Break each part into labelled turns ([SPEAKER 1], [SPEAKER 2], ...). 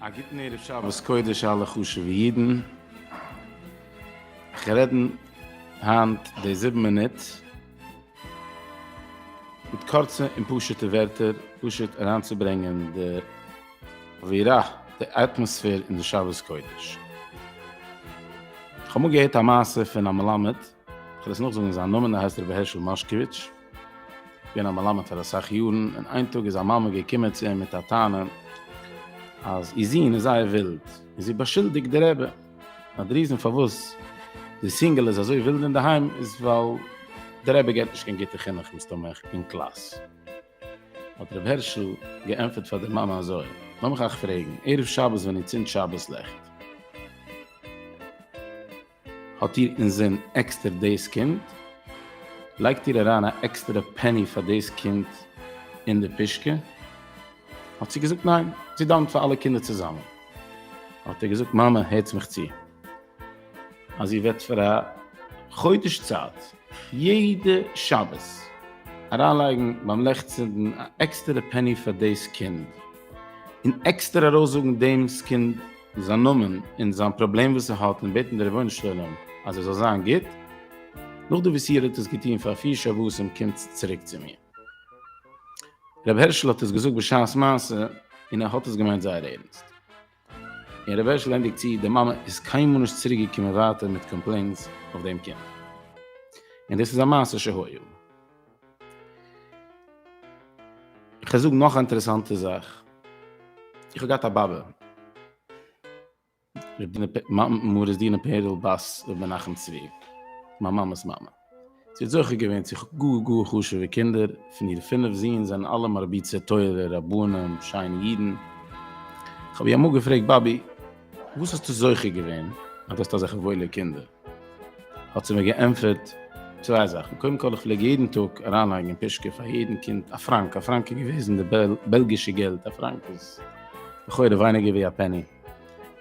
[SPEAKER 1] א גוטן ערב שבת קודש אלע חשובע אידן, איך רעד היינט די זיבן מינוט מיט קורצע און פשוט'ע ווערטער פשוט אריינצוברענגען די אווירה, די אטמאספער אין די שבת קודש. כ'האב אמאל געהערט א מעשה פון א מלמד, כ'וועל עס נאכזאגן זיין נאמען, ער הייסט רבי הערשל מאשקאוויטש, געווען א מלמד פאר אסאך יארן, און איין טאג איז א מאמע געקומען צו אים מיט א טענה אז איר זון איז זייער ווילד, און זי באשולדיגט די רבי, אז די ריזען פארוואס די סינגעל איז אזוי ווילד אינדערהיים איז ווייל די רבי געבט נישט קיין גוטע חינוך מסתמא אין קלאס. האט ר' הערשל געענטפערט פאר די מאמע אזוי, לאמיך אייך פרעגן, ערב שבת ווען איר צינדט שבת לעכט, האט איר אינזין עקסטער דאס קינד? לייגט איר אריין א עקסטערע פעני פאר דאס קינד אין די פושקע? האט זי געזאגט ניין, זי דאוונט פאר אלע קינדער צוזאמען. האט ער געזאגט מאמע הערטס מיך צו, אז איר וועט פאר א חודש צייט יעדע שבת אריינלייגן ביים לעכטצינדן א עקסטערע פעני פאר דאס קינד, און עקסטער ארויסזאגן דעם'ס קינד זיין נאמען און זיין פראבלעם וואס ער האט און בעטן די רבונו של עולם אז ער זאל זיין גוט, נאכדעם וואס איר האט עס געטון פאר פיר שבתים קומטס צוריק צו מיר. רבי הערשל האט עס געזאגט בשעת מעשה און ער האט עס געמיינט זייער ערנסט. און ר' הערשל ענדיגט צו, די מאמע איז קיינמאל נישט צוריק געקומען ווייטער מיט קאמפלעינס אויף דעם קינד. און דאס איז א מעשה שהיה. איך זאג נאך א אינטערעסאנטע זאך. איך האב געהאט א באבע, מרת דינה פערל בת ר' מנחם צבי, מיין מאמע'ס מאמע. זי האט זוכה געווען צו גאר גאר חשוב'ע קינדער, פון איר פינף זון זענען אלע מרביצי תורה, רבנים, שיינע אידן. כ'האב איר אמאל געפרעגט, באבי, וואס האסטו זוכה געווען אז דו האסט אזעלכע וואוילע קינדער? האט זי מיר געענטפערט, צוויי זאכן, קודם כל איך פלעג יעדן טאג אריינלייגן אין פושקע פאר יעדן קינד א פראנק, א פראנק איז געוועזן די בעלגישע געלט, א פראנק איז לכאורה ווייניגער ווי א פעני,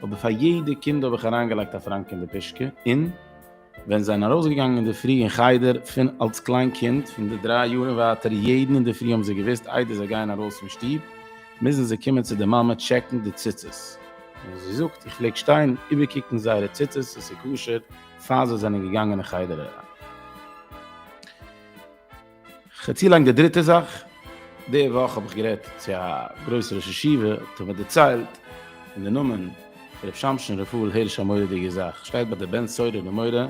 [SPEAKER 1] אבער פאר יעדע קינד האב איך אריינגעלייגט א פראנק אין די פושקע, און. ווען זיי זענען ארויסגעגאנגען אינדערפרי אין חדר, פון אלס קליין קינד, פון די דריי יאר און ווייטער, יעדן אינדערפרי האבן זיי געוואוסט, איידער זיי גייען ארויס פון שטוב, מוזן זיי קומען צו די מאמע טשעקן די ציצית. און זי זאגט, איך פלעג שטיין איבערקוקן זייערע ציצית אז ס'איז כשר, פאר זיי זענען געגאנגען אין חדר אריין. חצי לאנג די דריטע זאך, די וואך האב איך גערעדט צו א גרויסע ראש ישיבה, האט ער מיר דערציילט אין די נאמען פון ר' שמשון רפאל הערש א מורא'דיגע זאך, שטייט ביי די בן סורר ומורה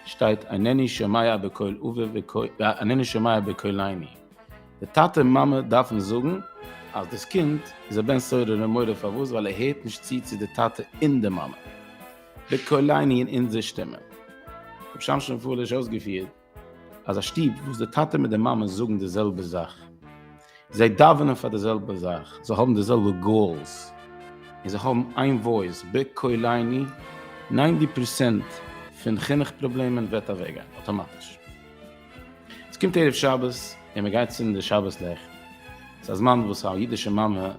[SPEAKER 1] שטייט אינני שומע בקול אבי ואינני שומע בקול אמי, די טאטע און מאמע דארפן זאגן אז דאס קינד איז א בן סורר ומורה פארוואס ווייל ער הערט נישט צו צו די טאטע און די מאמע, בקול אמי אין אונזער שטימע, ר' שמשון רפאל הערש אויסגעפירט. אז א שטוב וואס די טאטע מיט די מאמע זאגן די זעלבע זאך, זיי דאווענען פאר די זעלבע זאך, זיי האבן די זעלבע גאולס, און זיי האבן איין וואויס בקול עיני, ניינטי פראצענט פון חינוך פראבלעמען וועט אוועקגיין אטאמאטיש. עס קומט ערב שבת און מען גייט צינדן די שבת לעכט, עס איז א זמן וואס א אידישע מאמע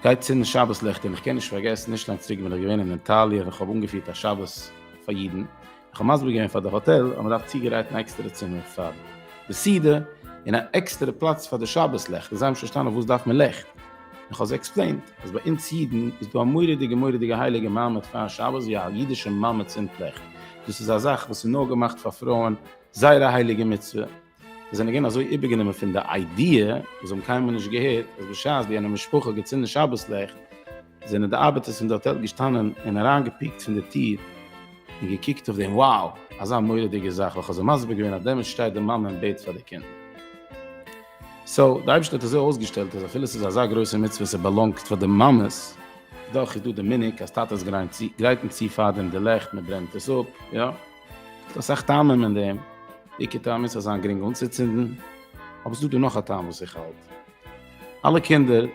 [SPEAKER 1] גייט צינדן שבת לעכט, און איך קען נישט פארגעסן, נישט לאנג צוריק בין איך געווען אין איטאליע און איך האב אנגעפירט א שבת פאר אידן, כ'האב מסביר געווען פאר די האטעל אז מען דארף צוגרייטן א עקסטערע צימער פאר די סעודה, און א עקסטערע פלאץ פאר די שבת לעכט, און זיי האבן נישט פארשטאנען פארוואס דארף מען לעכט, און כ'האב זיי עקספלעינט אז ביי אונז אידן איז דא א מורא'דיגע מורא'דיגע הייליגע מעמד פאר שבת ווי א אידישע מאמע צינדט לעכט, דאס איז א זאך וואס איז נאר געמאכט פאר פרויען, זייער א הייליגע מצוה. זיי זענען געווען אזוי איבערגענומען פון די איידיע, זיי האבן קיינמאל נישט געהערט אז בשעת ווי יענע משפחה האט געצינדן שבת לעכט, זענען די ארבעטערס פון די האטעל געשטאנען און אריינגעפיקט פון די טיר און געקוקט אויף דעם wow, אזא מורא'דיגע זאך, וועלכע האט זיי מסביר געווען אז דעמאלטס שטייט די מאמע און בעט פאר די קינדער. סאו, די אייבערשטער האט אזוי אויסגעשטעלט אז אפילו עס איז אזא גרויסע מצוה און עס באלאנגט פאר די מאמעס, דאך איז דא די מנהג אז טאטעס גרייטן צו פאר דעם די לעכט, מען ברענט עס אפ, יא. דאס אסאך טעמים אין דעם, די עיקר טעם איז ס'זאל זיין גרינג אנצוצינדן, אבער ס'איז דא דא נאך א טעם וואס איך האלט, אלע קינדער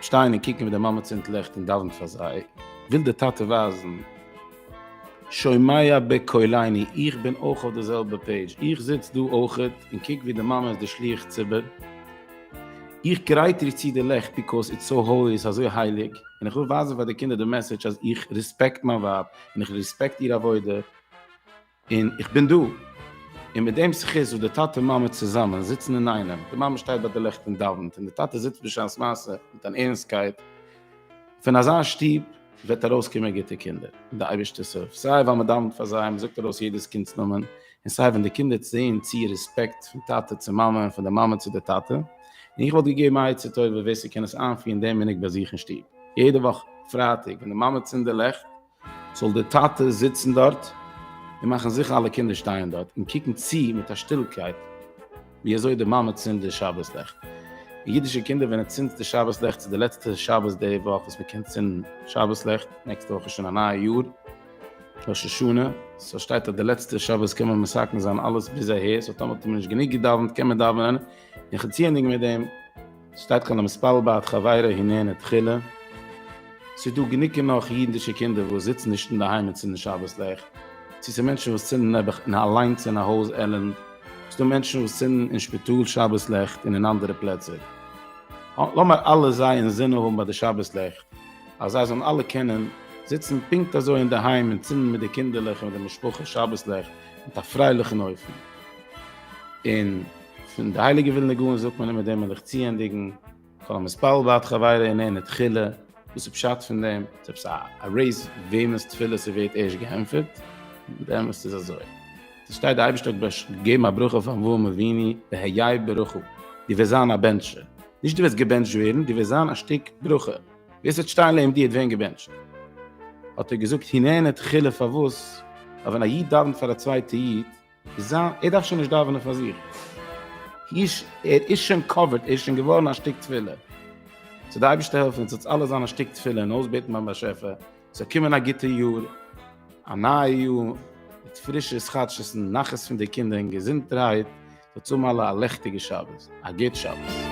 [SPEAKER 1] שטייען און קוקן ווי די מאמע צינדט ליכט און דאווענט פאר זיי, וויל די טאטע ווייזן, שומע בקולני, איך בין אויך אויף די זעלבע פעידזש, איך זיץ דא אויכעט און קוק ווי די מאמע איז די שליח ציבור, איך גרייט איר צו די לעכט ביקאוז איטס סאו האולי, ס'אזוי הייליג, און איך וויל ווייזן פאר די קינדער די מעסעדזש אז איך רעספעקט מיין ווייב, און איך ריספעקט איר עבודה, און איך בין דא, און מיט דעם זכות וואס די טאטע און מאמע צוזאמען זיצן אינאיינעם, די מאמע שטייט ביי די לעכט און דאווענט, און די טאטע זיצט בשעת מעשה מיט אן ערנסטקייט, פון אזא שטוב וועט ארויסקומען גוטע קינדער, און די אייבערשטער סוף, סיי ווייל מען דאווענט פאר זיי, מען זאגט ארויס יעדעס קינד'ס נאמען, און סיי ווען די קינדער צען צי רעספעקט פון טאטע צו מאמע און פון די מאמע צו די טאטע, און איך וואלט געגעבן א עצה טובה ווער ס'קען עס איינפירן דעם מנהג ביי זיך אין שטוב, יעדע וואך פרייטאג ווען די מאמע צינד די לעכט זאל די טאטע זיצן דארט און מאכן זיכער אלע קינדער שטייען דארט און קוקן צי מיט א שטילקייט. ווי אזוי די מאמע צינדט די שבת לעכט. אידישע קינדער ווען ער צינדט די שבת לעכט צו די לעצטע שבת די וואך וואס מען קען צינדן שבת לעכט נעקסטע וואך איז שוין א נייע יאר ראש השנה סאו שטייט אז די לעצטע שבת קען מען מסכם זיין אלעס ביז אהער סאו טאמער האט מען נישט גענוג געדאווענט קען מען דאווענען און חציה'ניג מיט דעם. שטייט כאן המספל בעת חברו הנהנה תחילה, ס'דא גענוג און נאך אידענטישע קינדער וואס זיצן נישט אינדערהיים און צינדן שבת לעכט, צו ס'איז מענטשן וואס צינדן נעבעך אין אליינס אין א הויז עלענד, ס'דא מענטשן וואס צינדן אין שפיטאל שבת לעכט און אין אנדערע פלעצער. לאמיר אלע זיי אינזין האבן ביי די שבת לעכט, אז זיי זאלן אלע קענען זיצן פונקט אזוי אינדערהיים און צינדן מיט די קינדערלעך און מיט די משפחה שבת לעכט מיט א פרייליכן אופן, און. פון די הייליגע ווילנע גאון זאגט מען אז מיט דעם וויל איך צוענדיגן כל המתפלל בעד חברו איננו תחילה, וואס איז פשט פון דעם? איז עפעס א רעיס וועמענס תפילה ס'ווערט ערשט געענטפערט? באמת איז אזוי. עס שטייט די אייבערשטער האט באש געגעבן א ברכה פאר אברהם אבינו והיה ברכה, דו וועסט זיין א בענטשער, נישט דו וועסט געבענטשט ווערן, דו וועסט זיין א שטיק ברכה, ווער ס'וועט שטיין לעבן דיר וועט ווערן געבענטשט. האט ער געזאגט הננו תחילה פארוואס? ווייל ווען א איד דאווענט פאר א צווייטע איד, זיין, ער דארף שוין נישט דאווענען פאר זיך, היש, ער איז שוין קאווערד, ער איז שוין געווארן א שטיק תפילה. זאל די אייבערשטער העלפן אונז אונז אלע זיין א שטיק תפילה און אויסבעטן ביים באשעפער ס'זאל קומען א גוטע יאר, א נייע יאר מיט פרישע התחדשות'ן, נחת פון די קינדער און געזונטערהייט, זאלטס האבן אלע א לעכטיגע שבת, א גוט שבת.